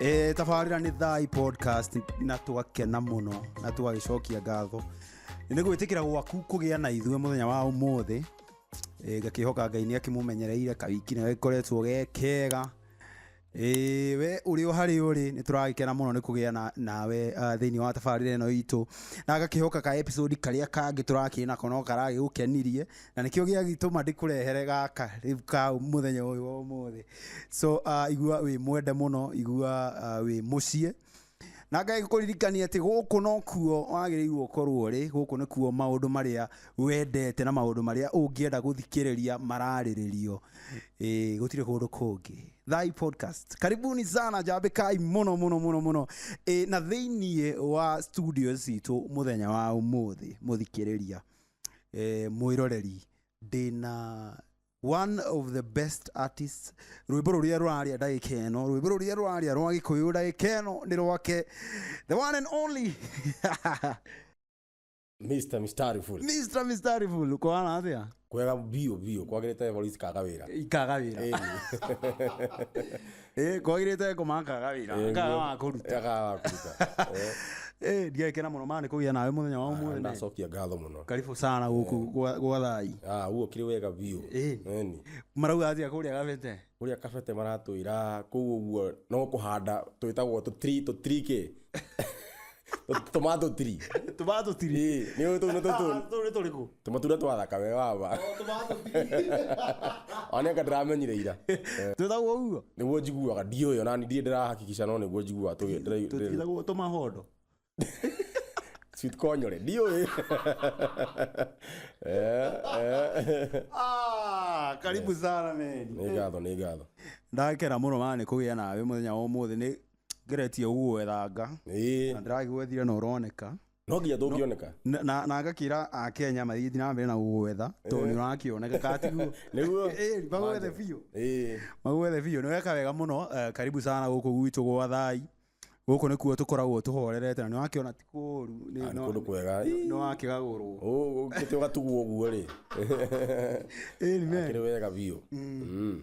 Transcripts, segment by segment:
e, tabarä ra nä thai podcast na twakena må no na twagä cokia ngatho nä gwä tä kä ra gwaku kå gä a na ithuä må thenya wa å må thä ngakä hoka ngai nä akä må menyereire kawiki nä gäkoretwo ge kega Ĩĩ, we ũrĩ o harĩ ũrĩ nĩ tũragĩkena mũno nĩ kũgĩa na- nawe uh, thĩinĩ wa tabarĩra ĩno itũ na gakihoka ka episode karĩa kangĩ tũrakĩrĩ nako no karagĩgũkenirie na nĩkĩo gĩagĩtũma ndĩkũrehere gaka rĩu ka mũthenya ũyũ wa ũmũthĩ so uh, igua wĩ mwende mũno igua uh, wĩ mũciĩ na ngai gũkũririkania atĩ gũkũ no kuo wagĩrĩirwo ũkorwo ũrĩ gũkũ nĩ kuo maũndũ marĩa wendete na maũndũ marĩa ũngĩenda gũthikĩrĩria mararĩrĩrio ĩ gũtirĩ kũndũ kũngĩ thai podcast karibuni sana njambĩkai mũno mũno mũno mũno ĩ na thĩiniĩ wa studio citũ mũthenya wa ũmũthĩ mũthikĩrĩria eh, mwĩroreri ndĩna one of the best artists rwĩmbo rũrĩa rũraria ndagĩka ĩno rwĩmbo rũrĩa rũraria rwa gĩkũyũ ndagĩka ĩno nĩ rwake the one and only Mr. Mistari Full. mr mistariful kwana atĩa Kwega bio bio kwagĩrĩte Evarist kaga wĩra. ikaga wĩra Ĩni. Eh, kwairite kumankaga wira nkaga wakuruta agakuruta Eh, ndiekena muno mani kugia nawe muthenya wa umuthi ndacokia ngatho muno karibu sana guku gwa gwa thai Ah, guo kiri wega biu Eh. Eni. marauga atia kuria gabete uria kabete maratwira kuu uguo no kuhanda twitagwo tutri tutrike tomato tree tomato tiri Ĩĩ, nĩ ũĩ tũu nĩ tũtũ tũu nĩ tũrĩkũ tũmatunda twathaka we waba tomato tiri oneka ndĩramenyire ira twĩtagwo ũguo nĩguo njiguaga ndiũĩ ona ndirĩ ndĩrahakikica no nĩguo njiguaga tũgĩ- ndĩra- ndĩra- tũtigagwo tũmahondo sweet konyore ndiũĩ Eh, eh. Ah, karibu sana meni nĩ ngatho nĩ ngatho ndakera mũno mana nĩ kũgĩa nawe mũthenya wa ũmũthĩ nĩ ngeretie gũgwethanga Ĩĩ. na ndĩragwethire na ũroneka no nginya tũngĩoneka na, na, na ngakĩra akenya mathiĩ na mbere na gũgwetha tondũ nĩ ũrakĩoneka katiguo nĩguo Ĩĩ, magwethe biũ Ĩĩ. magwethe biũ nĩ weka wega mũno eh, karibu sana gũkũ gwitũ gwa thai gũkũ nĩkuo tũkoragwo tũhorerete na nĩ wakĩona ti kũũru nĩ- Ah, nĩ no- kũndũ kwega Ĩĩ. nĩ wakĩgagũrwo Ũ- ũkĩte ũgatugwo ũguo rĩ Amen. kĩrĩ wega biũ Mm.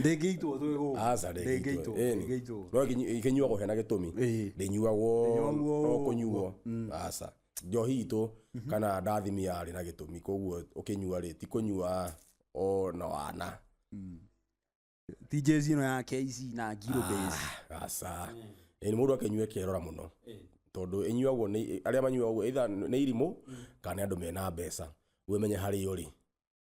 ndĩngĩitwo twĩ gũkũ aca ndĩngĩitwo ndĩngĩitwo no ikinyuagwo hena gĩtũmi Ĩĩ. ndĩnyuagwo Ndĩnyuagwo o ũguo. kũnyuo aca njohi itũ kana ndathimi yarĩ na gĩtũmi koguo ũkĩnyua rĩ ti kũnyua o na wana ti jezi ĩno ya KC na ngiro base aca ĩĩ mũndũ akĩnyua kerora mũno tondũ ĩnyuagwo nĩ arĩa manyuagwo either nĩ irimũ kana nĩ andũ mena mbeca wĩmenye harĩa ũrĩ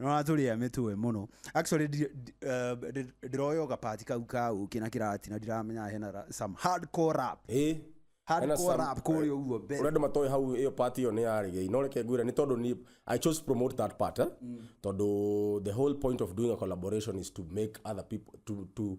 nĩũratũrĩa mĩtwe mũno actually ndi- ndi- eh, ndi- ndĩroywo gapati kau ka ũkĩ na kĩrati na ndiramenya hena ra- some hardcore rap Ĩ, Hardcore hena some- rap kũrĩa ũguo mbere. ũrĩa andũ matoĩ hau ĩyo part ĩyo nĩ ya reggae no reke ngwĩre nĩ tondũ ni i chose to promote that part eh? tondũ the whole point of doing a collaboration is to make other people to, to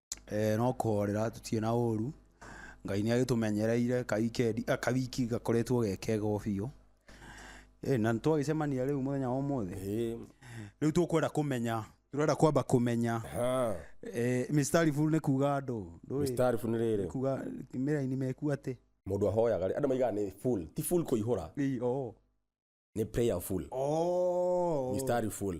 Eeh no kũhorera tũtirĩ na ũru, Ngai nĩ agĩtũmenyereire ka weekend a ka wiki gakoretwo ge kega o biũ. Ĩ na nĩ twagĩcemania rĩu mũthenya wa ũmũthĩ, rĩu tũkwenda kũmenya, tũrenda kwamba kũmenya eeh mĩstari full nĩ kuga andũ, ndũĩ? Mĩstari full nĩ rĩrĩ? Kuga nĩ raini meku atĩ? Mũndũ ahoyaga rĩ, andũ maugaga nĩ full, ti full kũihũra, Ĩ oo. nĩ prayer full, Ooh. mĩstari full.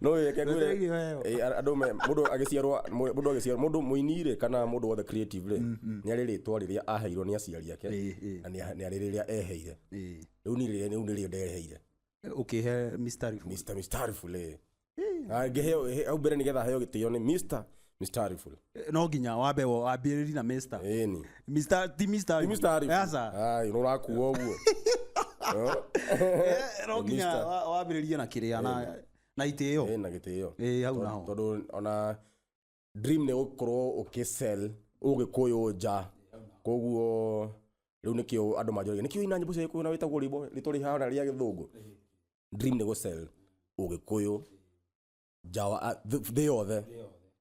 no reke ngwĩre Ndũteithie weo. eh, andũ me- mũndũ agĩciarwa mũ- mũndũ agĩciarwa mũndũ mũini rĩ kana mũndũ wothe creative rĩ nĩ arĩ rĩtwa rĩrĩa aheirwo nĩ aciari ake Ĩĩ, ĩĩ. na nĩ a- nĩ arĩ rĩrĩa eheire Ĩĩ. rĩu nĩ rĩrĩa rĩu nĩ rĩrĩa ndereheire ũkĩhe mistari Mr. Mistarifu le angĩheo hau mbere nĩgetha heo gĩtĩo nĩ Mr. Mr. Ariful. no nginya wambe wo- wambĩrĩri na Mr. Eh, ni. Mr. ti Mr. Ni Mr. Ariful. Aca. Ai, nũrakua ũguo. Eh, Eh, no nginya Mr. wa- wambĩrĩrie na kĩrĩa na na itĩo Eh, na gĩtĩo. Eh, hau naho. Tondũ ona dream nĩ gũkorwo ũkĩsell ũgĩkũyũ nja. Koguo rĩu nĩkĩo andũ manjũragia nĩkĩo ina nyĩmbo cia gĩkũyũ na wĩtagwo rĩmbo rĩtũ rĩhana rĩa gĩthũngũ. Dream nĩ gũsell ũgĩkũyũ nja wa a- th- thĩ yothe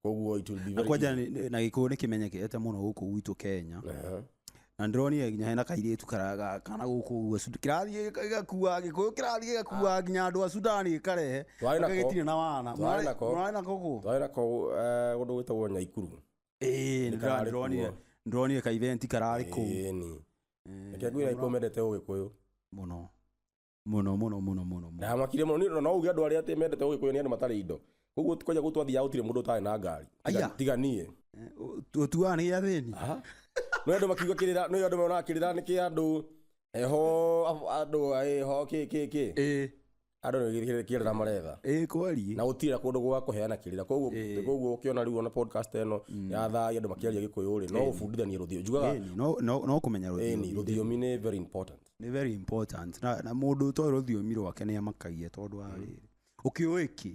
koguo it will be na very kwanja easy. nĩ- na gĩkũyũ nĩ kĩmenyekete mũno gũkũ gwitũ kenya Aha. na ndĩronire nginya hena kairĩtu karaga kana gũkũ ũguo Sud- kĩrathiĩ gĩka- gĩgakuaga gĩkũyũ kĩrathiĩ gĩgakuaga nginya andũ a sudani gĩkarehe Twarĩ nako. gagĩtirĩ na wana Twarĩ nako. mwarĩ nako gũ twarĩ nako eh, kũndũ gwĩtagwo nyaikuru Ĩĩ, nĩ kararĩ ndĩronire kuo. ndĩronire kaiventi kararĩ kũu Ĩĩni. Ĩĩ, reke ngwĩra ikuo mendete ũgĩkũyũ mũno mũno mũno mũno mũno mũno. ndamakire mũno nĩ ũndũ no uge andũ arĩa atĩ mendete ũgĩkũyũ nĩ andũ matarĩ indo koguo kwaja gũtũ athiaga gũtirĩ mũndũ ũtarĩ na ngari Tiga- Aya. tiga niĩ Eh, ũ- ũtuaga nĩ gĩa thĩni Aha. no andå makiuga kä rä ra no andå meonaga kä rä ra nä kä andå heho andå heho kä kä kä ĩĩ andå nä kä rä ra maretha ĩĩ kweli na gå tirä ra kå ndå gwa kå heana kä rä ra koguo Ĩĩ. koguo å kä ona rä u ona podcast eno ya thai andå makä aria gä kå yå rä no å bundithanie rå thiå njugaga Ĩni, no- no no kũmenya rũthiomi. ĩni rå thiomi nä very important nĩ very important na, na mũndũ ũtoĩ rũthiomi rwake nĩ amakagia tondũ wa rĩrĩ ũkĩũĩ kĩ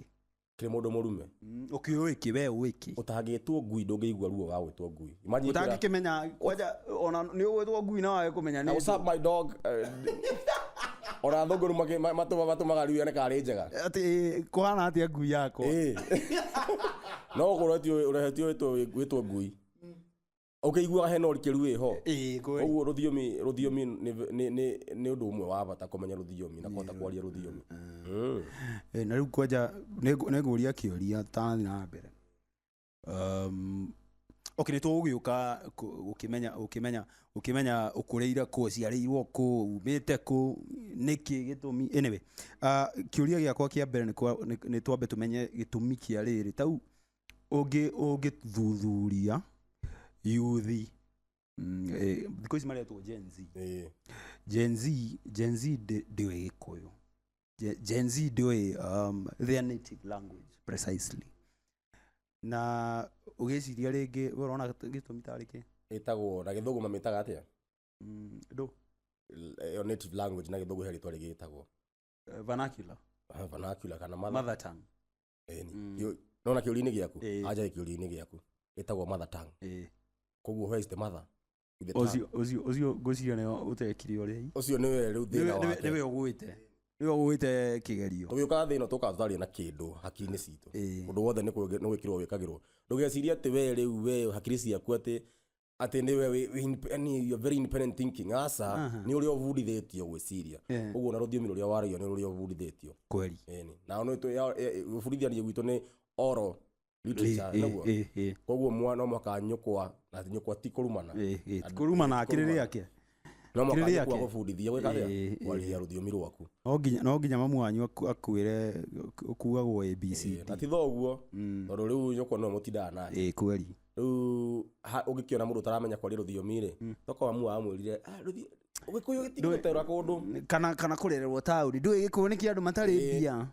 kĩrĩ mũndũ mũrume Mm, ũkĩũĩ kĩ we ũĩ kĩ ũtangĩtwo ngui ndũngĩigua ruo wa gwĩtwo ngui Imagine kwĩra- ũtangĩkĩmenya kwanja ona nĩ ũgwĩtwo ngui na wage kũmenya Now, nĩ what's up, my dog Eh, ona thũngũrũ makĩ- ma- matũma- matũmaga riu yone karĩ njega atĩ eh, kũhana atĩa ngui yakwa Ĩĩ. no ũkorwo ti ũrehetio wĩtwo ngui ũkĩiguaga hena ũrikĩru wĩho Ĩĩ, kweli. koguo rũthiomi rũthiomi nĩ- nĩ- nĩ- nĩ ũndũ ũmwe wa bata kũmenya rũthiomi na kũhota kwaria rũthiomi Mm. Eh, na rĩu kwanja nĩngũria kĩũria tathiĩ na mbere um, okay, nĩ tũgũgĩũka kũ- gũkĩmenya gũkĩmenya gũkĩmenya ũkũrĩire kũ ũciarĩirwo kũ umĩte kũ nĩkĩ gĩtũmi anyway uh, kĩũria gĩakwa kĩa mbere nĩ kwa- nĩ- nĩ twambe tũmenye gĩtũmi kĩa rĩrĩ tau ũngĩ ũngĩthuthuria yuthi mm, eh, thikũ ici maretwo Gen Z Ĩĩ. Gen Z Gen Z ndi- ndiũĩ gĩkũyũ Je- Gen Z ndiũĩ um, their native language precisely na ũgĩciria rĩngĩ we ũrona gĩtũ- gĩtũmi tarĩ kĩ ĩtagwo na gĩthũngũ mamĩtaga atĩa Mm, ndũ L- ĩyo native language na gĩthũngũ he rĩtwa rĩgĩtagwo eh, vernacular vernacular kana mother mother tongue Ĩni. Mm. Kĩũ- nona kĩũria-inĩ gĩaku Ĩĩ. anja kĩũria-inĩ gĩaku ĩtagwo mother tongue Ĩĩ. koguo where is the mother With the tongue. Ũcio- ũcio ũcio ngwĩciria nĩo ũtekire ũrĩa i- ũcio nĩwe rĩu thĩna nĩwe- nĩwe- wake nĩwe ũgwĩte nĩwe ũgwĩte kĩgerio tũgĩũkaga thĩna tũkaga tũtarĩ na kĩndũ hakiri-inĩ citũ Ĩĩ. ũndũ wothe nĩ kwĩge- nĩ gwĩkĩrwo wĩkagĩrwo ndũgecirie atĩ we rĩu we hakiri ciaku atĩ atĩ nĩwe wĩ- wĩ indep- yani you're very independent thinking aca Aha. nĩ ũrĩa ũbundithĩtio gwĩciria Yeah. ũguo na rũthiomi rũrĩa waragia nĩ rũrĩa ũbundithĩtio kweli Ĩni. nao nĩ tũ- ya- ya- ũbundithania gwitũ nĩ oro literature Eh, nĩguo eh, eh, koguo mwana no mũhaka nyũkwa na nyũkwa ti kũrumana eh, eh, kuruma na akĩrĩ rĩake no Kĩrĩrĩ mũhaka yake. gũbundithia gwĩka atĩa? Ĩĩ, ĩĩ. kwaria rũthiomi rwaku No nginya- no nginya mamu wanyu aku- akwĩre kuagwo abc na ti thoguo tondũ rĩu nyũkwa nĩwe mũtindaga nake ĩ kweli rĩu ha- ũngĩkĩona mũndũ ũtaramenya kwaria rũthiomi rĩ toka mamu wamwĩrire "Ah, rũthi- ũgĩkũyũ gĩtigũterũra kũndũ kana kana kũrererwo taũni ndũĩ gĩkũyũ nĩ kĩa andũ matarĩ Ĩĩ. mbia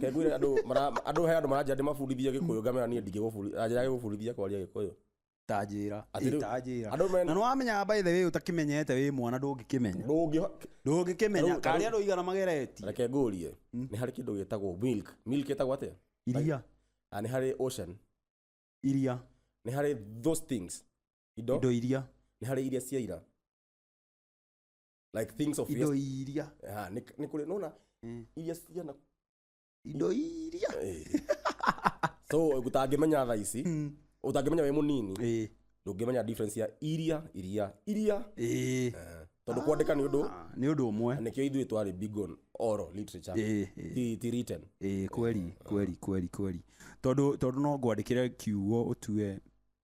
kengwire andũ mara- andũ he andũ maranjĩra ndĩmabundithie gĩkũyũ ngamera niĩ ndingĩgũbundithia njĩra gĩgũbundithia kwaria gĩkũyũ ta njĩra Atĩ Ĩ, rĩu- ta njĩra andũ mena- na nĩ wamenya by the way ũtakimenyete wĩ mwana ndũngĩkĩmenya ndũngĩho ndũngĩkĩmenya Tarĩu- karĩa andũ igana mageretie reke ngũrie nĩ harĩ kĩndũ gĩtagwo milk milk ĩtagwo atĩa iria Ah, nĩ harĩ ocean iria nĩ harĩ those things indo indo iria nĩ harĩ iria cia ira like things of indo yes iria Ah, nĩ nĩ kũrĩ nona iria cia na indo iria so gũtangĩmenya tha ici ũtangĩmenya wĩ mũnini Ĩĩ, ndũngĩmenya difference ya iria iria iria ĩĩ. tondũ kwandĩka nĩ ũndũ Ah, nĩ ũndũ ũmwe nĩkĩo ithuĩ twarĩ big on oral literature Ĩĩ, ĩĩ. ti ti written Ĩĩ, kweli kweli kweli kweli tondũ tondũ no ngwandĩkĩre kiugo ũtue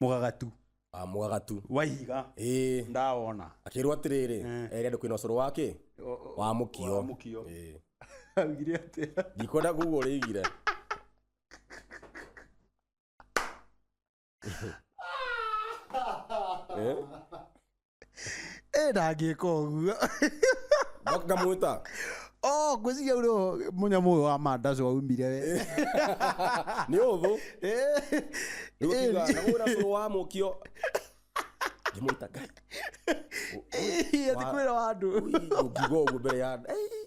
mũgagatu Ah, mwagatu wa ihiga ĩĩ ndawona akĩrwo atĩrĩrĩ erĩ andũ kwĩna ũcũrũ wake wa mũkio wa mũkio. Ĩĩ. augire atĩa ndikwenda kuga ũrĩigire Eh? ä ndangĩka å guo Nga- ngamwĩta Oh, ngwĩciria ũrĩ o mũnyamũ ũyũ wa mandaco aumire we nĩ ũthũ Eh, nĩgũkiuga eh, nagũra cũrũ wa mũkio ngĩmwĩta ngai eh, ati kwĩra wa andũ ũngiuga ũguo mbere ya andũ. Ei,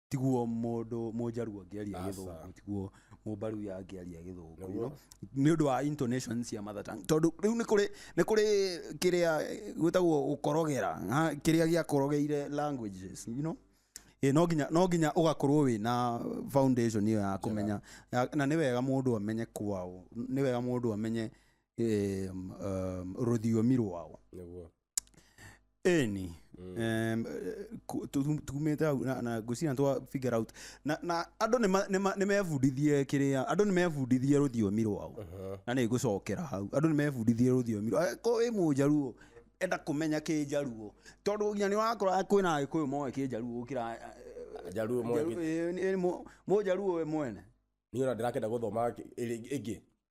tiguo mũndũ mũnjaruo angĩaria Aca. gĩthũngũ tiguo mũmbaruya angĩaria gĩthũngũ you know? nĩ ũndũ wa intonation cia mother tongue tondũ rĩu nĩ kũrĩ nĩ kũrĩ kĩrĩa gwĩtagwo gũkorogera ha, kĩrĩa gĩakorogeire languages you know? Ĩ, no nginya no nginya ũgakorwo wĩ na foundation ĩyo ya kũmenya ya- na nĩ wega mũndũ amenye kwao nĩ wega mũndũ amenye em, em, rũthiomi rwao nĩguo eni Em, eh, ku- tu- tu- tumĩte hau na- na ngwĩciria twa figure out na na andũ nĩ ma- nĩ ma- nĩ mebundithie kĩrĩa andũ nĩ mebundithie rũthiomi rwao na nĩ ngũcokera hau andũ nĩ mebundithie rũthiomi rwao ko wĩ mũnjaruo enda kũmenya kĩnjaruo tondũ nginya nĩ wakora kwĩna agĩkũyũ moĩ kĩnjaruo gũkĩra Jaruo moĩ kĩ- mũnjaruo we mwene niä ona ndä rakenda gå thoma ä ngä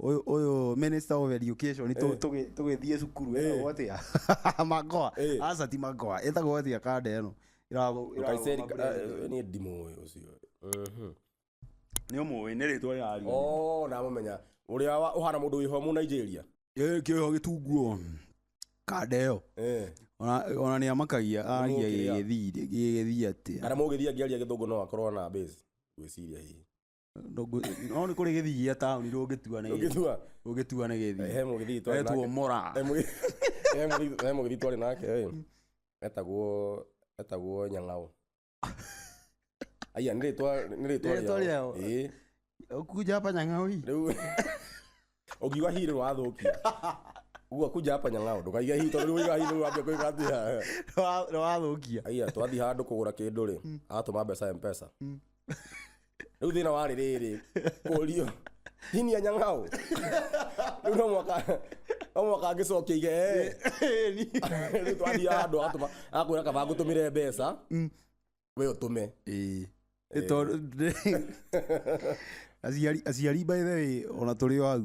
Ũyũ ũyũ minister of education tũ- tũgĩ- tũgĩthiĩ cukuru etagwo atĩa magoa Eh. aca ti magoa etagwo atĩa kanda ĩno Ĩragũ- ĩragũ- Kaiseri eh, niĩ ndimũĩ ũcio Mhm. nĩ ũmũĩ nĩ rĩtwa rĩrariũ Oh, ndamũmenya ũrĩa wa- ũhana mũndũ wĩho mu nigeria kĩho gĩtunguo kanda ĩyo Eh, Ona- ona nĩ amakagia aria Mũkĩrĩa. gĩgĩthiri gĩgĩthii atĩa kana mũgĩthiĩ angĩaria gĩthũngũ no akorwo na base gwĩciria hihi Ndũngũ- no nĩ kũrĩ gĩthii gĩa taũni rũngĩtua nĩ Ũngĩtua? rũngĩtua nĩ gĩthii He mũgĩthii twarĩ Etwo nake. Mora. He mũgĩ- he mũgĩ- he mũgĩthii twarĩ nake ĩ, etagwo etagwo nyang'au aya nĩ rĩtwa nĩ rĩtwa Nĩ rĩtwa rĩao. rĩao. Ĩĩ. Ũkunja hapa nyang'aũ hii. rĩu Ũngiuga hi rĩ wathũkia. Uga kuja hapa nyang'ao ndũkaige hi tondũ rĩu hi rĩu wambia kũiga thia. Nĩ wathũkia. Aiya twathiĩ handũ kũgũra kĩndũ rĩ atũma mbeca mpesa. Rĩu thĩna warĩ rĩrĩ kũrio hini ya nyang'ao. Rĩu no mwaka no mwaka angĩcokia ige eh. Rĩu twathiĩ handũ atũma akwĩra kaba ngũtũmĩre mbeca. we ũtũme ĩĩ Nĩ tondũ- aciari aciari by the way ona tũrĩ o hau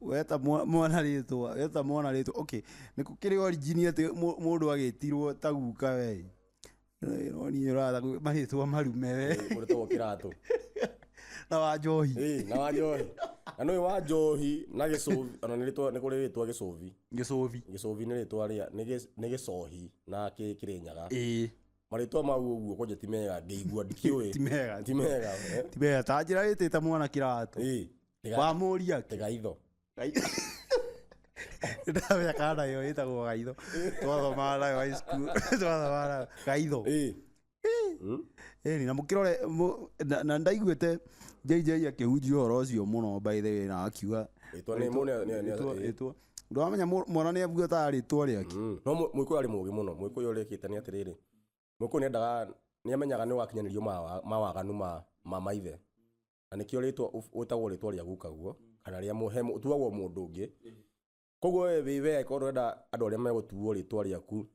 weta mwa- mwana rĩtwa weta mwana rĩtwa okay nĩ kũkĩrĩ origini atĩ mũ- mũndũ agĩtirwo ta guka we niĩ ũratha gwĩ- marĩtwa marume we mũrĩtagwo kĩratũ na wa njohi Ĩĩ, na wa njohi na nũyũ wa njohi na gĩcũbi ona nĩ rĩtwa- nĩ kũrĩ rĩtwa gĩcũbi gĩcũbi gĩcũbi nĩ rĩtwa rĩa nĩ gĩ- nĩ gĩcohi na kĩ- kĩrĩnyaga ĩĩ marĩtwa mau ũguo kwanja ti mega ngĩigua ndikiũĩ Ti mega. ti mega eh? tibeya ta njĩra ĩtĩte mwana kĩratũ Ĩ, tiga- wamũria tiga itho ndamenya kana nayo ĩtagwo gaitho twathomaa nayo high school twathomaa nayo gaitho Ĩ. Mm. ĩni na mũkĩrore mũ- na- na ndaiguĩte jj akĩhunjia ũhoro ũcio mũno by the way na akiuga Rĩtwa nĩ mũ- nĩ- nĩ- nĩ- Rĩtwa- ĩ. rĩtwa. ndwamenya mũ- mwana nä abuataga rä twa rä ake Mm. no må- mũgĩkũyũ arĩ mũgĩ mũno mũgĩkũyũ ũrĩkĩte nĩ atĩrĩrĩ mũgĩkũyũ nĩendaga nĩamenyaga nĩ wakinyanĩrio mawa- mawaganu ma ma maithe na nĩkĩo rĩtwa ũf- wĩtagwo rĩtwa rĩa gukaguo kana rĩa mũ- he mũ- ũtuagwo mũndũ ũngĩ koguo we wĩ we angĩkorwo ndũrenda andũ arĩa megũtuo rĩtwa rĩaku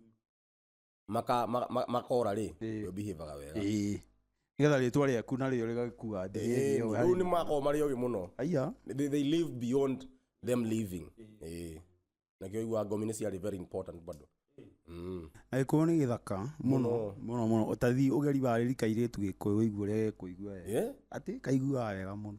maka- ma- ma- makora rĩ Ĩĩ. we behaviaga wega Ĩĩ. nĩgetha rĩtwa rĩaku na rĩo rĩgakua Ĩĩ, rĩu nĩ makoragwo marĩ oĩ mũno aya they, they live beyond them living Ĩĩ. na kĩo igua ngomi nĩ ciarĩ very important bado Mm. na gĩkũyũ nĩ gĩthaka mũno Mũno. mũno mũno ũtathi ũgeri wa rĩrika irĩtu gĩkũyũ ũigue ũrĩa gĩkũigua wega. Yeah? atĩ kaiguaga wega mũno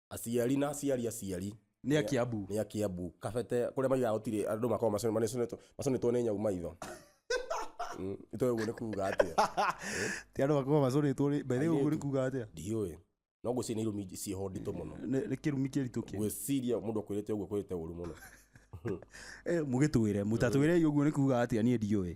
aciari na aciari aciari Nĩ a Kiambu. nä a kä ambu kabete kå rä a maigaga å tirä andå makorwo maconetwo nä nyau maitho Mm, itoä å guo nä kuga atä a ti andå makorwo macorĩtwo rĩ mbere ũguo nĩ kuga atĩa ndiå no ngwä ciria nä irumi ciĩho nditå må no Nĩ- nĩ kĩrumi kĩritũ kĩ ngwä ciria må ndå akwä rä te å guo kwä rä te å ru må no Eh, mũgĩtwĩre mũtatwĩre ũguo nĩ kuga atĩa niĩ ndiũĩ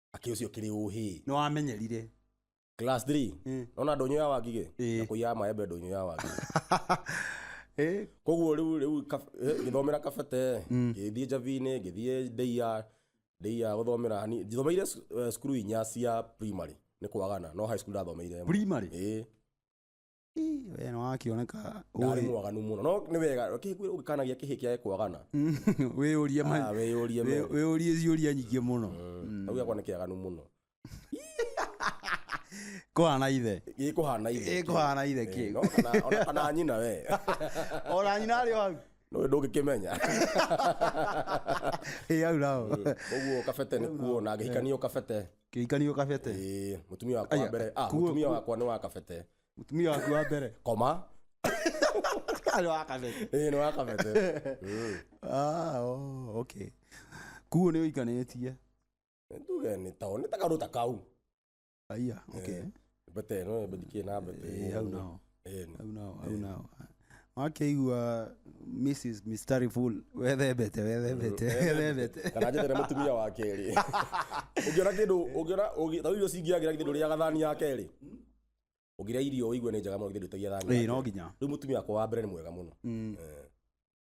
akĩ ũcio kĩrĩ ũhĩ nĩ wamenyerire class 3 Mm. nona ndũnyũ ya wangigĩ Ĩĩ. na kũiyaga maembe ndũnyũ ya wangigĩ Eh, koguo rĩu rĩu kab- eh, ngĩthomera kabete ngĩthiĩ njabi-inĩ ngĩthiĩ ndeia ndeia gũthomera hani njithomeire sc- eh, cukuru inya cia primary nĩ kwagana no high school ndathomeire ĩmwe. primary ĩĩ Ii, we nĩ wakĩoneka ndarĩ ũĩ. mwaganu mũno no nĩ wega ũkĩhĩkwĩra ũgĩkanagia kĩhĩ kĩa kwagana wĩyũrie ma- Ah, wĩyũrie wĩ- mengi. wĩyũrie ciũria nyingĩ mũno kau gakwa nĩ kĩaganu mũno kũhana ithe gĩkũhana ithe Gĩkũhana ithe Eh, kĩu. no kana- ona kana nyina we ona nyina arĩ o hau Ndũĩ ndũngĩkĩmenya ĩ hau nao koguo kabete nĩ kuo na ngĩhikania kabete kĩhikanio kabete Ĩĩ, mũtumia wakwa wa Aya, mbere ah, kuo- mũtumia kuo- wakwa nĩ wa kabete mutumia waku wa mbere koma arĩ wa kabete Ĩĩ, nĩ wa kabete Mm. Ah, oh, okay kuo nĩ ũikanĩtie tuge nĩ tao nĩ takarũta kau aiya okay but then no but ke na but Eh, au nao eh au nao au nao wakeigua mrs mistari full wethembete wethembete wethembete kana njete na mutumia wa keri ungiona kindu ungiona ungi- ta irio cingiagira kindu ria gathani ya keri ungira irio uigue ni njega muno kindu tagia thani Eh, no nginya riu mutumia wakwa wa mbere ni mwega muno Eh.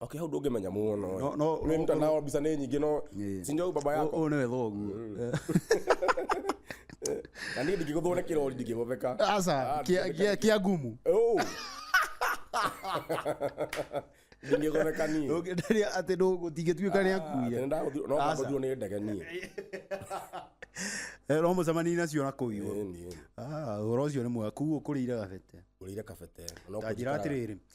okay hau ndũngĩmenya mũno No- no- Nĩ no- mtandao mbica nĩ nyingĩ no Yeah. si ndio baba yako Ũyũ nĩwe thoguo. Eh. na niĩ ndingĩgũthwo nĩ kĩrori ndingĩgũtheka Aca, Ah, kia- kia- kia ngumu. Oh. ndingĩgũtheka niĩ Ndũngĩenderia atĩ ndũ- gũtingĩtuĩka nĩ akuia. nondagũthirwo nĩ ndege niĩ Eh, no mũcemanie nacio na kũu igũrũ. Ĩĩ, niĩ Ah, ũhoro ũcio nĩ mwega kuguo kũrĩire gabete ũrĩire kabete Ta njĩra atĩrĩrĩ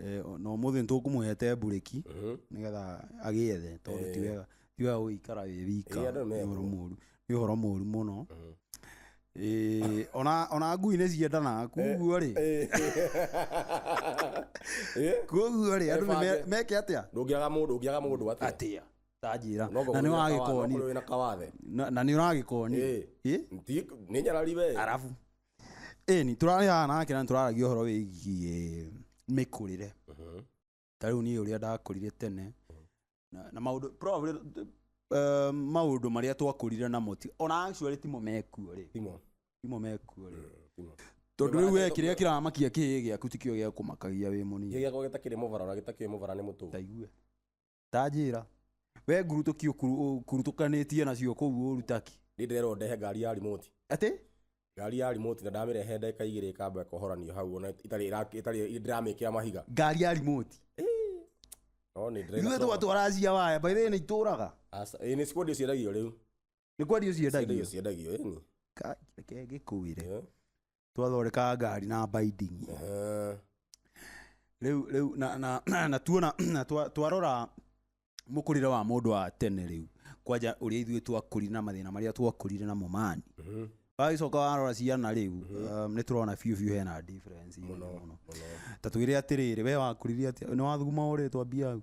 Eh, o- na ũmũthĩ nĩtũkũmũhete mburĩki Mhm. nĩgetha agĩethe tondũ Eh. ti wega ti wega gũikara wĩ wika Eh, andũ nĩ nĩ ũhoro mekũ. mũru nĩ ũhoro mũru mũno Mhm. Eh, ona ona ngui nĩ ciendanaga kuguo rĩ Eh. Eh? kuguo rĩ andũ nĩ me- Ebange. meke atĩa ndũngĩaga mũndũ ũngĩaga mũndũ atĩa atĩa tanjĩra No ngorwo na nĩ wĩna kawa- no wagĩkoni ngorwo wĩna kawathe na na nĩ ũragĩkoni Eh. Ĩ? Ti- nĩ nyarari we arabu ĩni tũrarĩ haha nake na tũraragia ũhoro wĩgiĩ mĩkũrĩre Mhm. ta rĩu niĩ ũrĩa ndakũrire tene na, na maũndũ probably, eh, maũndũ marĩa twakũrire namo ti ona actually timo mekuo rĩ Timo. timo mekuo rĩ Timo. tondũ rĩu we kĩrĩa kĩramakia kĩĩ gĩaku tikĩo gĩa kũmakagia wĩ Gĩkĩ mũnini gĩakwa gĩtakĩrĩ mũvara ona gĩtakĩrĩ mũvara nĩ mũtũgũ taigue Ta njĩĩra. We ngurutũki ũkurutũkanĩtie nacio kũu ũũru Turkey. Niĩ ndĩrerwo ndehe ngari ya remote. Atĩ? Ngari ya remote na ndamĩrehe ndagĩka igĩrĩ ĩkamba ĩkohoranio hau ona itarĩ ĩra- ĩtarĩ ndĩramĩkĩra mahiga. Ngari ya remote. No nĩ ndĩrĩ Ithuĩ twatwara cia waya. By the way nĩ itũraga. Aca, ĩĩ nĩ cikwendio ciendagio rĩu. Nĩ kwendio ciendagio. Ciendagio ciendagio, ĩni. Kai, reke ngĩkũĩre. Eh? twathondekaga ngari na binding Ehe. rĩu rĩu na na na tuona na twa- twarora mũkũrĩre wa mũndũ wa tene rĩu kwanja ũrĩa ithuĩ twakũrire na mathĩna marĩa twakũrire namo mani Mhm. wagĩcoka warora ciana rĩu um, nĩ tũrona biũ biũ hena difference mũno mũno mũno ta twĩre atĩrĩrĩ we wakũrire atĩa nĩ wathuguma ũrĩtwa mbia hau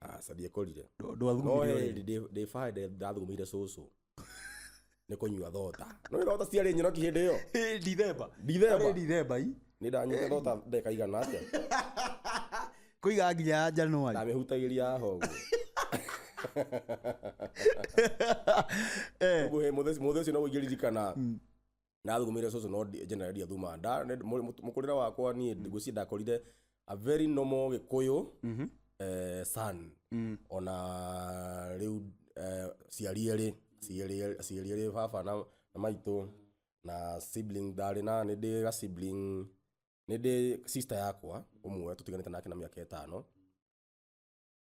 aca ndiekũrire no ndwathugumire ũrĩrĩ. hĩndĩ ndĩ bara ndĩ- ndathugumire cũcũ nĩ kũnyua thota no nĩ thota ciarĩ nyoroki hĩndĩ ĩyo Eh, ndithemba Ndithemba. Arĩ ndithemba i nĩ ndanyuire thota ndeka igana atĩa kũiga nginya ya januari ndamĩhutagĩria haha ũguo Eh, Ũguo, hĩ, mũthĩ mũthĩ ũcio no ũingĩririkana ndathugumire cũcũ no ndi- generally ndiathuma nda nĩ- mũ- mũ- mũkũrĩre wakwa niĩ ngwĩciria ndakorire a very normal gĩkũyũ eh, son ona rĩu eh, ciari erĩ ciari erĩ- ciari erĩ baba na na maitũ na sibling ndarĩ na nĩ ndĩ ga sibling nĩ ndĩ sister yakwa ũmwe tũtiganĩte nake na mĩaka ĩtano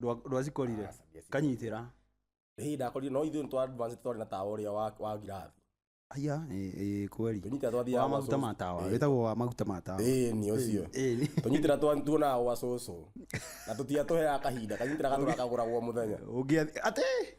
Ndwa- ndwacikorire Aca, ndiacikorire. kanyitĩra hä ndakorire no ithuä nä twa advance twarä na tawa å rä a wa wa ngirathi aya ĩ- ĩ, kweri tå nyitira twathiaga wa gwa maguta cũcũ. ma tawa Ĩĩ. wĩtagwo wa maguta ma tawa Ĩĩ, nĩ ũcio Ĩĩ, nĩ- tå nyitira tuonaga gwa cåcå na tå tia tå heaga kahinda kanyitira gatå rakagå ragwo må thenya ũngĩathi atĩ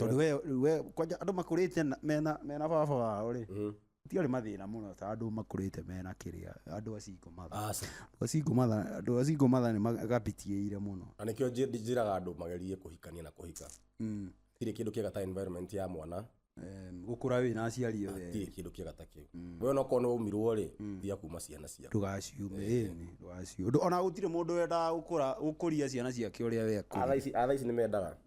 tondå we rĩu we kwanja andå makå rä te mena mena baba wao rä Mhm. tiarä mathä na må no ta andå makå rä te mena kä rä a andå acingå matha aca andå acingå matha andå acingå matha nä magapitiä ire må no na nĩkĩo njĩ- njĩraga andũ magerie kũhikania na kũhika tirĩ kĩndũ kĩega ta environment ya mwana gå kå ra wä na aciari othe tirĩ kĩndũ kĩega ta kĩu we onakorwo nĩ ũmirwo rĩ thiga kuma ciana ciaku ndågaciume ndågaciume ona gå tirä må ndå wendaga gå kå ria ciana ciake å rä a wekå atha ici atha ici nĩ mendaga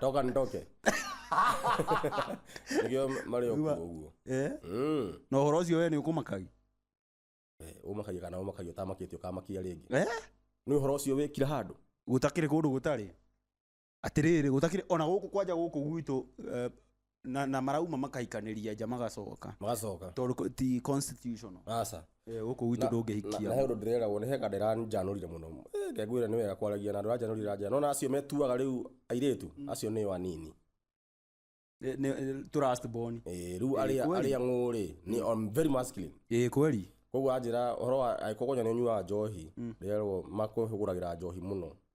toka nitoke nĩkĩo marĩ okuo ũguo Eh? Mm. na ũhoro ũcio we nĩ ũkũmakagi Eh, ũmakagia kana ũmakagia ũtamakĩtie ũkamakia rĩngĩ Eh? nĩ ũhoro ũcio wĩkira handũ gũtakĩrĩ kũndũ gũtarĩ atĩrĩrĩ gũtakĩrĩ ona gũkũ kwanja gũkũ gwitũ eh, na, na marauma makahikanĩria nja magacoka magacoka tondũ ti constitutional aca Eh, gũkũ gwitũ na he ndũngĩhikia ũndũ ndĩreragwo nĩ heka ndĩranjanũrire mũno Eh, ngegwĩra nĩ wega kwaragia na andũ ranjanũrire ranjana nona acio metuaga rĩu airĩtu acio nĩo anini Nĩ- nĩ- tũ last born Eh, rĩu arĩa kweli. arĩa ng'ũrĩ ni I'm very masculine ĩ kweli koguo anjĩra ũhoro wa angĩkorwo kwanja nĩ ũnyuaga njohi ndĩrerwo makũhũgũragĩra njohi mũno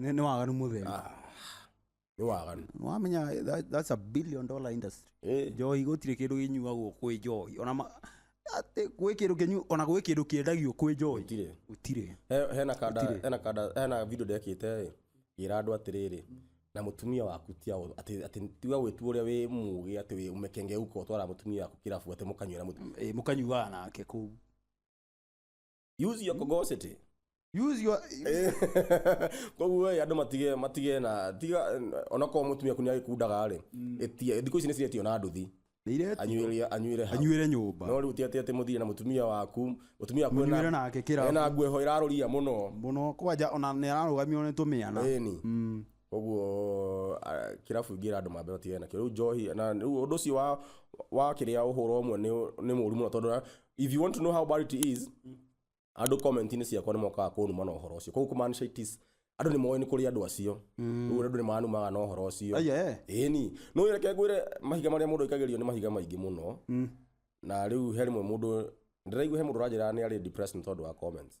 Nĩ nĩ waganu mũtheri. Ah, nĩ waganu Wamenya that- that's a billion dollar industry. Eh, Njohi gũtirĩ kĩndũ kĩnyuagwo kwĩ njohi. Ona ma- atĩ gwĩ kĩndũ kĩnyu ona gwĩ kĩndũ kĩendagio kwĩ njohi. gũtirĩ Gũtirĩ. He- hena kanda Gũtirĩ. hena kanda hena video ndekĩte ĩ gira andũ atĩrĩrĩ na mũtumia waku ti aũ- atĩ atĩ tiga gwĩtua ũrĩa wĩ mũgĩ atĩ wĩ ũmekenge uko twara mũtumia waku kĩrabu atĩ mũkanyuĩra mũtumia Eh, mũkanyuaga nake kũu. use your cogosity use your koguo ĩ andå matige matige na tiga onakorwo må tumia ku nä agäkundaga rä ä thikå ici nä ciretio na nduthi Nĩiretu- anyuä anyuä hau anyuĩre nyũmba no rä u tiatä atä må thire na må tumia waku må tumia waku Mũnyuĩre ena- nake kĩrabu. ena nguo ĩho ĩrarå ria må no mũno kwanja ona nä ararå gamio nä tå mä ana ĩni koguo ah, kĩrabu ingĩ ĩra andũ mambe matigane nakĩo rĩu njohi na rĩu ũndũ ũcio wa wa kĩrĩa ũhũra ũmwe nĩ nĩ mũru mũno tondũ na- if you want to know how bad it is andũ comment-inĩ ciakwa nĩ mokaga kũnuma na ũhoro ũcio koguo kumaanisha it is andũ nĩ moĩ nĩ kũrĩ andũ acio rĩu andũ nĩ manumaga na ũhoro ũcio Aya, eh. ĩni nĩ reke ngwĩre mahiga marĩa mũndũ aikagĩrio nĩ mahiga maingĩ mũno na rĩu he rĩmwe mũndũ ndĩraigua he mũndũ ũranjĩra nĩ arĩ depressed nĩ tondũ wa comments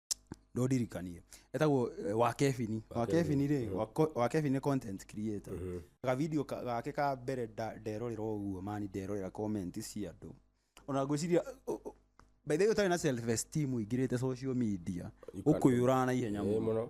no ndirikanie etagwo eh, wa kebini wa kebini rĩ wa co- wa kebini nĩ content creator ga video ka- gake ka mbere nda- nderorera ũguo mani nderorera comment cia andũ ona ngwĩciria ũ- ũ- by the way ũtarĩ na self esteem ũingĩrĩte social media ũkũyũraga na ihenya Eh, mũno mũno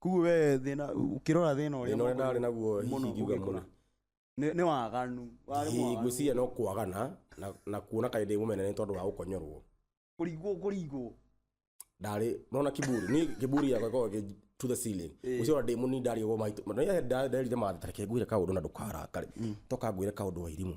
koguo we thĩna ũkĩrora thĩna ũrĩa Thĩna ũrĩa ndarĩ naguo hihi mũno ingiuga ũgĩkũra mũno. nĩ nĩ waganu warĩ hihi mwaganu. ngwĩciria no kwagana na, na kuona kaĩ ndĩ mũmene nĩ tondũ wa gũkonyorwo kũringwo kũringwo ndarĩ nona kiburi ni kiburi yakwa ĩkoragwo ĩkĩ- to the ceiling gũciora ndĩ mũnini ndarĩ ũguo maitũ nderire mathĩ tareke ngwĩre kaũndũ na ndũkarakare toka ngwĩre kaũndũ wa irimũ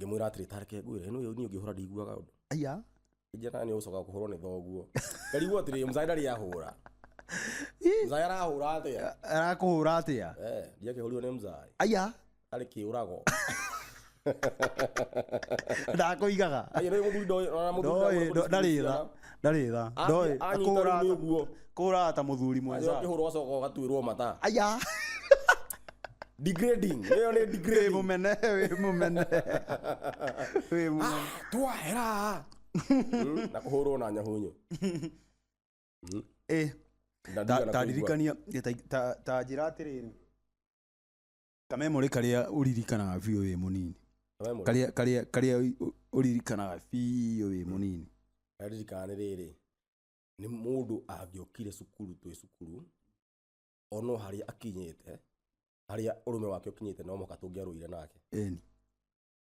ngĩmwĩra atĩrĩ tareke ngwĩre ĩno niĩ ũngĩhũra ndiguaga ũndũ aya injĩra kana nĩ ũgũcoka kũhũrwo nĩ thoguo ngarigwo atĩrĩ mzaya ndarĩ ahũra mzaya arahũra atĩa arakũhũra atĩa Eh, ndiakĩhũrirwo nĩ mzaya aya arĩ kĩũrago ndakũigaga Ayo, nĩ mũthuri ndoĩ- ona mũthuri Ndoĩ, ndoĩ- ndarĩ tha. ndarĩ tha ndoĩ Angĩ- anyita kũhũra rĩu nĩguo. kũhũra ta mũthuri Rĩrĩa mwenza ũkĩhũrwo ũgacoka ũgatuĩrwo mata aya degrading ĩyo nĩ wĩ degrading mũmene wĩ mũmene wĩ mũmene twahera Mm, na kũhũrwo na nyahunyu ĩ Ndandigana kũigua. tandirikania ta njĩra atĩrĩrĩ kamemorĩ karĩa ũririkanaga biũ wĩ mũnini Kamemorĩ. karĩa karĩa karĩa ũ- ũririkanaga biũ wĩ mũnini ndaririkana nĩ rĩrĩ nĩ mũndũ angĩokire cukuru twĩ cukuru ono harĩa akinyĩte harĩa ũrũme wake ũkinyĩte no mũhaka tũngĩarũire nake Ĩni.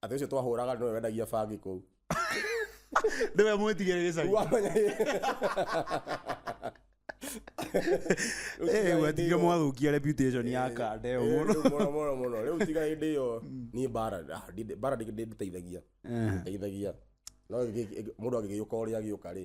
atĩ ũcio twahũraga nĩwe wendagia bangi kũu nĩwe mwĩtigĩre gĩcagi Wamenya- Eh, gwatigire mwathũkia reputation ya kande ĩyo Eh, mũno rĩu mũno mũno mũno rĩu tiga hĩndĩ ĩyo niĩ bara ah, ndi- bara ndi- ndi- ndĩteithagia Eh, ndeithagia no ĩgĩ- ĩgĩ- mũndũ agĩgĩũka ũrĩa agĩũka rĩ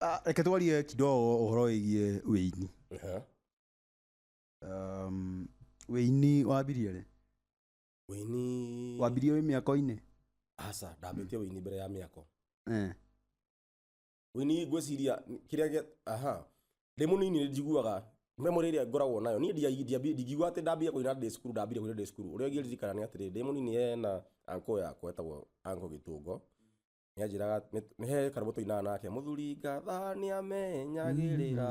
Ah, reke twarie kidogo ũhoro wĩgiĩ wĩini Aha. um, wĩini wambirie rĩ wĩini wambirie wĩ mĩako-inĩ aca ndambĩtie wĩini mbere ya mĩako Eh, wĩini ngwĩciria kĩrĩa gĩa aha ndĩ mũnini nĩ njiguaga memory ĩrĩa ngoragwo nayo niĩ ndia- ndiambi- ndingiuga atĩ ndambire kũina ndĩ cukuru ndambire kũina ndĩ cukuru ũrĩa ngĩririkana nĩ atĩrĩ ndĩ mũnini hena anko yakwa etagwo anko gĩtũngo nĩanjĩraga nĩ- nĩ he karũmũ tũinaga nake mũthuri ngatha nĩamenyagĩrĩra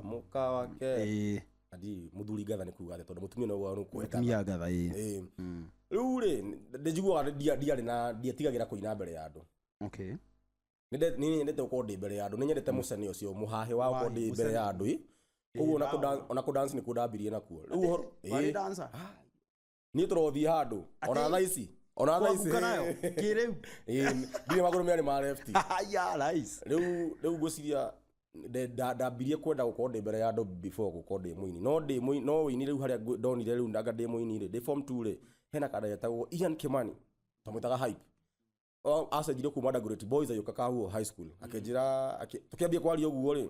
mũka wake Ĩĩ, adi mũthuri ngatha nĩ kuga atĩ tondũ mũtumia no gwa nũkũheta atumia ngatha ĩĩ. Ĩĩ. Mm, rĩu rĩ ndĩnjiguaga ndia- ndiarĩ na ndiatigagĩra kũina mbere ya andũ okay. Nĩnde- nĩ nyendete gũkorwo ndĩ mbere ya andũ nĩ nyendete mũcene ũcio mũhahĩ wa gũkorwo Mũhahĩ, ndĩ mbere mũcene. ya andũ ĩ. koguo ona kũ dan- ona kũ dance nĩkuo ndambirie nakuo Rĩu ũhoro- Warĩ ĩĩ. dancer? niä tå rothiä handå ona Atĩ- thaa ici ona thaa ici Kwaguka nayo, kĩrĩu. ndirä magå rå mä arä ma lefti ya rais rĩu rĩu ngwĩciria nde- nda- ndambirie kwenda gũkorwo ndĩ mbere ya andũ before gũkorwo ndĩ mũini no ndĩ mũini no ũini rĩu harĩa ngũ- ndonire rĩu ndanga ndĩ mũini rĩ ndĩ form 2 rĩ hena kanda getagwo Ian Kimani twamwĩtaga hype O- acenjire kuma Dagoretti boys agĩũka kahuo high school akĩnjĩra akĩ- tũkĩambia kwaria ũguo rĩ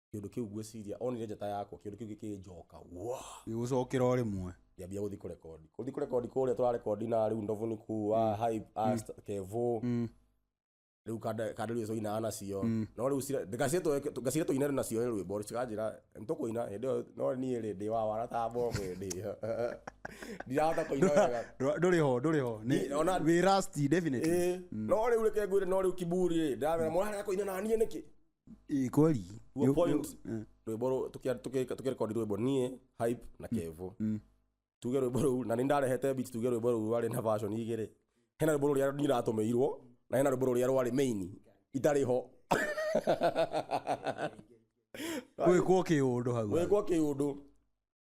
kĩndũ kĩu ngwĩciria onire njata yakwa kĩndũ kĩu gĩkĩnjoka gĩgũcokera o rĩmwe ngĩambia gũthiĩ kũrekondi gũthiĩ kũrekondi kũrĩa tũrarekondi na rĩu ndovu nĩ kuwa hype as kevo Mm. rĩu kanderio coinaga nacio Mm. no rĩu cira- ngacire tũ- ngacire tũine nacio nĩ rwĩmbo cikanjĩra nĩtũkũina hĩndĩ ĩyo no niĩ rĩ ndĩ wawara ta mbomu hĩndĩ ĩyo ndirahota kũina wega Ndũ- ndũrĩ ho ndũrĩ ho Nĩ- Nĩ- ona- wĩ rusty, definitely. Ĩĩ. no rĩu reke ngwĩre no rĩu kiburi rĩ ndamera mwarega kũina na niĩ nĩkĩ Ĩ, kweli Your Yo- point. yo- eh, rwimbo ru- tukia- tuki- tukirekondi rwimbo nie hype na kevo mm. tuge rwimbo ruu na nindarehete beat tuge rwimbo ruu rwarĩ na version igĩrĩ hena rwimbo rũrĩa nyiratũmĩirwo na hena rwimbo rũrĩa rwarĩ main itarĩ ho gwĩkwo kĩũndũ hau gwĩkwo kĩũndũ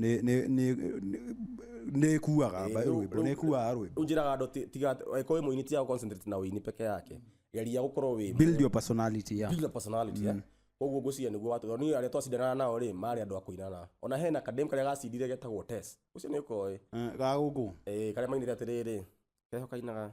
nĩ nĩ nĩ nĩ- nĩ ĩkuaga mba- rĩu- rwĩmbo nĩ ĩkuaga rwĩmbo unjiraga ndo tiga eko wi muini tiga concentrate na wini peke yake geria gukorwo wi build your personality yeah build a personality eh koguo ngwiciria niguo watu ni aria twacindana nao ri mari andu akuinana ona hena kadem karia gacindire getagwo test ucio ni ukoe Eh, ga gũkũ eh karia mainire atiriri keho kainaga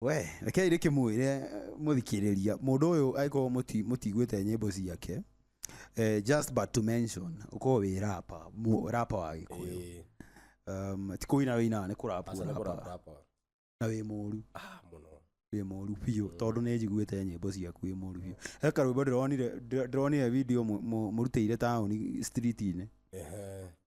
We, rekei rĩkĩmwĩre mũthikĩrĩria mũndũ ũyũ angĩkorwo mũti- mũtiguĩte nyĩmbo ciake eh, just but to mention ũkorwo wĩ rapa mu- rapa wa gĩkũyũ Ĩĩ. um, ti kũina wĩinaga nĩ kũrapu Aca nĩ kũrapa ũrapaga. rapa. na wĩ mũru Ah, mũno. wĩ mũru biũ tondũ nĩ njiguĩte nyĩmbo ciaku wĩ mũru biũ he karwĩmbo ndĩronire ndĩro- ndĩronire video mũ- mũ- mũrutĩire taũni street-inĩ Ehe.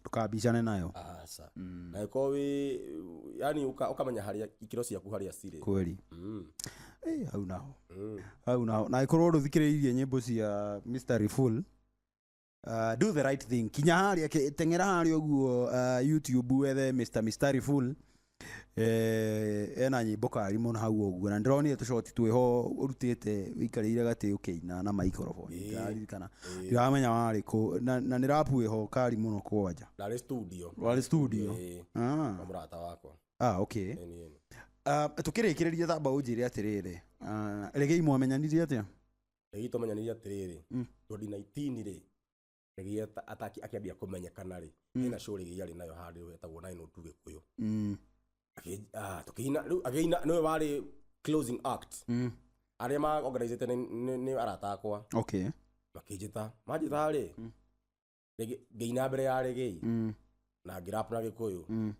ndũkambicane nayo aca mm. na ĩkorwo wĩ yani ũka- ũkamenya harĩa ikĩro ciaku harĩa cirĩ kweli Mm, Eh, hau naho mm. hau naho na ĩkorwo ndũthikĩrĩirie nyĩmbo cia mystery full Uh, do the right thing kinya harĩa ke- teng'era harĩa ũguo uh, youtube wethe mr mystery full Eh, ena nyimbo kari muno hau uguo na ndironire tucoti twiho urutite wikarire gati ukiina na microphone Ĩĩ. ndaririkana Ĩĩ. ndiramenya wari ku na na ni rap wiho kari muno kwanja ndarä studio Warĩ studio? Ĩĩ, ah kwa mũrata wakwa ah okay Ĩni, ĩni. Ah, tukirikiriria tamba unjire atiriri Ah, regei mwamenyanirie atia Ĩĩ, tũmenyanire atĩrĩrĩ Mm. 2019 rĩ rĩrĩa ta- ataki akĩambia kũmenyekana rĩ hena show rĩrĩa yarĩ nayo handũ hetagwo nine oh two gĩkũyũ Mm. Akĩ- ah, tũkĩina rĩu agĩina nĩwe warĩ closing act Mm. arĩa maorganizĩte nĩ- nĩ nĩ arata akwa okay makĩnjĩta manjĩta rĩ rĩngĩ- ngĩina mbere ya rĩgĩi Mm. na ngĩrap na gĩkũyũ Mm.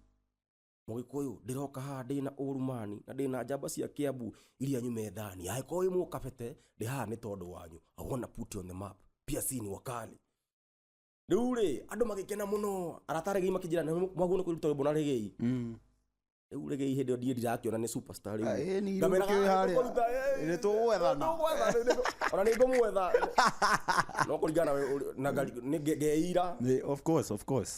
mũgĩkũyũ ndĩroka haha ndĩ na ũrumani na ndĩ na njamba cia kĩambu iria nyume thani angĩkorwo wĩ mũkabete ndĩ haha nĩ tondũ wanyu i wanna put you on the map pia si ni wakali rĩu rĩ andũ magĩkena mũno arata regei makĩnjĩra "Nĩ- mwaguo nĩ kũruta rwĩmbo na regei rĩu regei hĩndĩ ĩyo ndiĩ ndirakĩona nĩ superstar rĩu Ah, ĩ, nĩ Ngamera, irũkĩo "Ah, harĩa. nĩtũkũruta, eh, Nĩ tũgwethana." nĩtũgwethana, nĩtũ- ona nĩ ngũmwetha no kũringana na we- ũrĩ- na ngari- nĩ nge- ngeira Nĩ- of course of course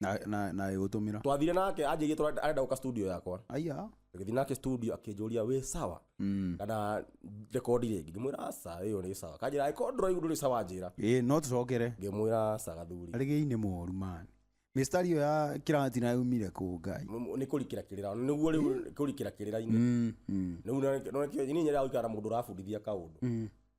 na na na igutumira twathire nake anjĩrie tũra- arenda gũka studio yakwa aya gĩthi nake studio akĩnjũria wĩ sawa mm kana rekondi rĩngĩ ngĩmwĩra aca ĩyo nĩ sawa kanjĩra ĩkorwo ndũraigu ndũrĩ sawa njĩra ĩ no tucokere ngĩmwĩra aca gathuri arigei nĩ moru man mistari yo ya kirati na yumire ku ngai M- nĩ kũrikĩra kĩrĩra nĩguo rĩu kũrikĩra kĩrĩra-inĩ mm mm rĩu nonekio nyinyi nyarĩa gũikara na mũndũ ũrabundithia kaũndũ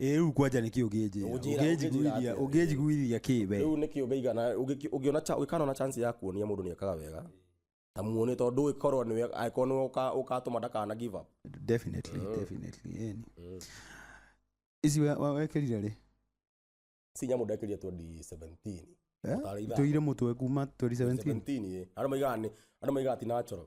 ä rä u kwanja nä kä å ngä njä Ũnjĩra- ra ũnjĩra å ngä njiguithia kä we rĩu nĩkĩ ũngĩigana ũngĩki- ũngĩona cha- ũngĩkana na chance ya kuonia mũndũ nĩ ekaga wega ta muone tondũ ndũĩ korwo nĩwe angĩkorwo nĩwe ũka- ũkatũma ndakana give up Definitely, Mm. definitely, yani. Mm. ici we- we- wekerire rä si nyamũ ndekĩria 2017 Mũtarĩitha. tå ire må twe kuma 2017 17 ĩ. andũ maigaga nĩ andũ maigaga ti natural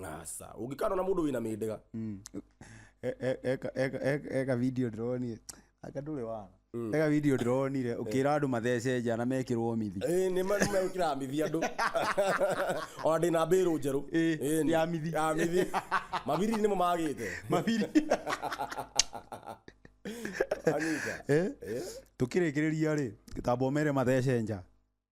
ngasa ũngĩkana na mũndũ wĩna mĩndĩga E- e- eka- eka- eka- eka video ndĩronire aka ndũrĩ wana eka video ndĩronire ũkĩra andũ mathece njana mekĩrwo mithi Ĩĩ, nĩ ma- nĩ megũkĩra mithi andũ ona ndĩna mbĩrũ njerũ Ĩĩ, Ĩĩ, nĩ- ya mithi. ya mithi mabiri nĩmo magĩte mabiri Anyita. Eh? Ĩĩ. tũkĩrĩkĩrĩria rĩ gĩtambo mere mathece nja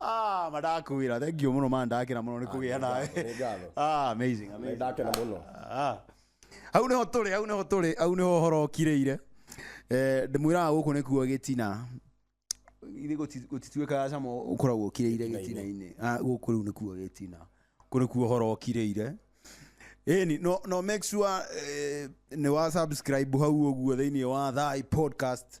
Ah, madakwira thank you muno man ndakira muno nikugia nawe Nĩ ngatho. ah amazing Nĩ amazing ndakena mũno Ah. hau nĩho tũrĩ hau nĩho tũrĩ hau nĩho ũhoro ũkirĩire Eh, ndĩmwĩraga gũkũ nĩkuo gĩtina ithe gũtituĩkaga cama ũkoragwo ũkirĩire gĩtina-inĩ Ah, gũkũ rĩu nĩkuo gĩtina kũ nĩkuo ũhoro ũkirĩire ĩni no, no make sure eh, nĩ wa subscribe hau ũguo thĩinĩ wa thai podcast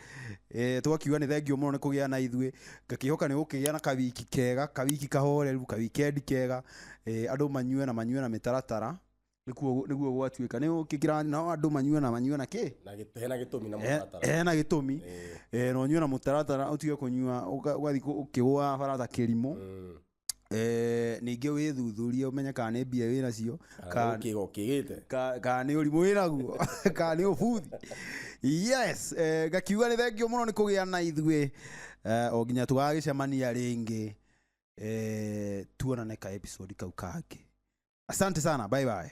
Eh, tũgakiuga nĩ thengiũ mũno nĩ kũgĩa na ithuĩ ngakĩhoka nĩ gũkĩgĩa na kawiki kega kawiki kahoreru kawikendi kega eh, andũ manyue na manyue na mĩtaratara nĩkuo nĩguo gwatuĩka nĩ ũkĩkĩra nao andũ manyue na manyue na kĩ na gĩ- hena gĩtũmi na Eh, mũtaratara eh, na gĩtũmi Eh. Eh, na ũnyue na mũtaratara ũtige kũnyua ũga- ũgathiĩ kũ- ũkĩgũa barata kĩrimũ Mm. Eh, ningĩ wĩthuthurie ũmenye kana nĩ mbia wĩ nacio kana- kigo kigite ka- kana nĩ ũrimũ wĩ naguo kana nĩ ũbuthi yes eh, ngakiuga nĩ thengio mũno nĩ kũgĩa na ithuĩ eh, o nginya tũgagĩcemania rĩngĩ eh, tuonane ka episode kau kangĩ asante sana bye bye